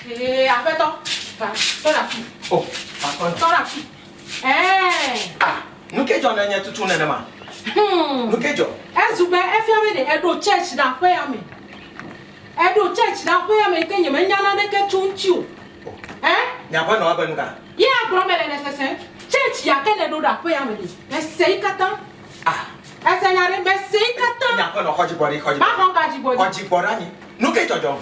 Ee, aƒetɔ, va, tɔ ɖe afi. O, aƒetɔ. Tɔ ɖe afi. Ɛɛ. A, nu ke dzɔ ne nye tutu nenema? Hmm. Nu ke dzɔ? Ezu be efia be ɖe eɖo church ɖe aƒea me. Eɖo church ɖe aƒea me ke nyemenya naneke tso ŋuti o. Ɛ? Nye aƒenɔ ebe nu ka? Ye agblɔ be le nesese church ya ke neɖo ɖe aƒea me ɖe. Mese yi katã. A. Ese nya ɖe, mese yi katã. Nye aƒenɔ, xɔ dzigbɔ ɖi, xɔ dzigbɔ. Maxɔ ka dzigbɔ ɖi? Xɔ dzigbɔ ɖe anyi. Nu ke dzɔdzɔm?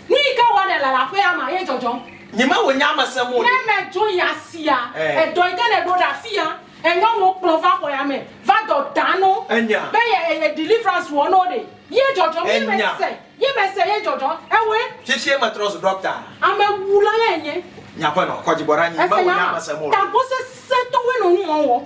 Nuyi ke wɔnɛ le aƒea ma ye dzɔdzɔm. Nyi me wò nya me sem o ɖe. Ne me dzo yi asia. Edɔ yi ke ne ɖo ɖe afi ya. Enyɔ no kplɔ va xɔ ya me. Va dɔ da no. Enya. Be ye ye deliverance wɔ no ɖe. Ye dzɔdzɔm. Enya. Ye me se. Ye me se ye dzɔdzɔ. Ewe. Fifie me trɔ zu ɖɔkta. Ame wu la ye nye. Nye aƒenɔ kɔdzi bɔ ɖa nyi me wò nya me sem o ɖe. Tagbɔ sese tɔwoe no nu mɔ wɔ.